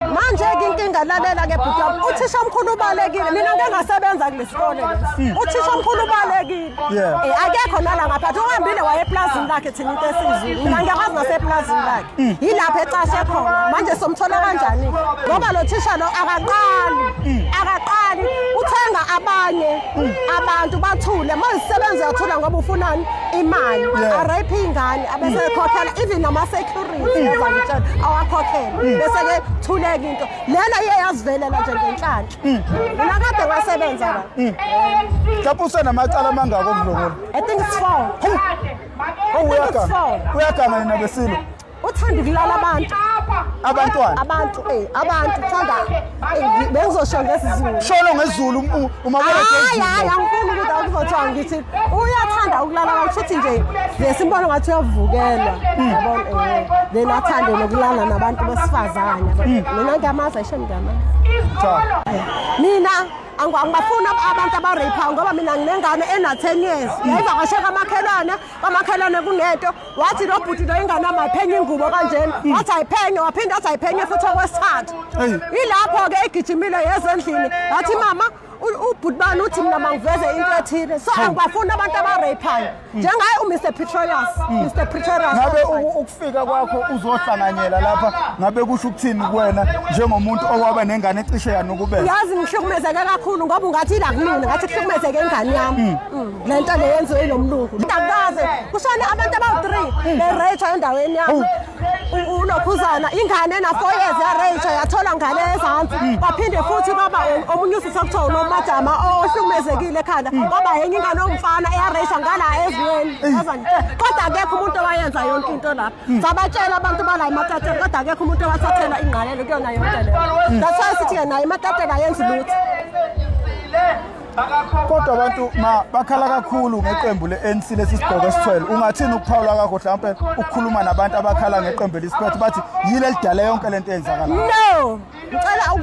Manje-ke inkinga lalela ke bhuti wami uthisha omkhulu ubalekile mina ngeke ngasebenza kulesikole lesi uthisha omkhulu ubalekile Yeah. Eh, akekho nala ngaphathi uhambile waye eplazini lakhe thina into esizulu mina ngiyakwazi naseplazini lakhe yilapho ecashe khona manje somthola kanjani ngoba lo thisha lo akaqali akaqali uthenga abanye abantu bathule manje sisebenza uyathula ngoba ufunani imali Yeah. arayiphi ingane abesekhokhela even nama security awakhokhele bese-ke thuleka into lena iye yazivelela nje ngenhlanhla mina kade wasebenza la mhlawumbe usenamacala amangaki okudlokula i think it's four uyaganga nina besilo uthanda ukulala abantu abantwana abantu eh abantu uthanda bengizosho ngesizulu sholo ngezulu uma hayi hayi angifuni ukuthi akuzothiwa ngithi uyathanda ukulala kakhulu futhi nje ngesimbono ngathi uyavukelwa hmm. yabona eh, then athande nokulala nabantu besifazane hmm. mina ngiyamazi ayisho ngiyamazi mina angibafuni abantu abareyiphayo ngoba mina nginengane ena-ten years yayivakasheka amakhelwane kwamakhelwane kunento wathi lo bhuti lo ingane yami ayiphenye ingubo kanjena hmm. wathi ayiphenye waphinde athi ayiphenye futhi okwesithathu ilapho-ke egijimile yezendlini yathi mama ubhuti bani uthi mina mangiveze into ethile so angibafuni abantu abareyiphayo hmm. njengaye umr petrolius hmm. mr petrolius ngabe ukufika kwakho uzohlanganyela lapha ngabe kusho ukuthini kuwena njengomuntu owaba nengane ecishe yanukubela yazi ngihlukumezeke kakhulu ngoba ungathi ila kumina ngathi kuhlukumezeke ingane yami le nto le yenziwe yilo mlungu indabukaze kushone abantu abawu-three bereyithwa endaweni yakho unokhuzana ingane ena-four years yareyithwa yathola ngane ezansi baphinde futhi baba omunye usisi okuthiwa unomajama ohlukumezekile ekhanda baba yenye ingane omfana eyareyithwa ngala ezweni kodwa akekho umuntu owayenza yonke into lapha sabatshela abantu bala imatatela kodwa akekho umuntu owathathela ingqalelo kuyona yonke leyo that's why sithi-ke nayo imatatela yenzi lutho kodwa abantu ma bakhala kakhulu ngeqembu le-anc lesi sigqoko esithwele ungathini ukuphawula kakho mhlawumpe ukukhuluma nabantu abakhala ngeqembu elisiphethe bathi yile lidale yonke le nto eyenzakalayo no ngicela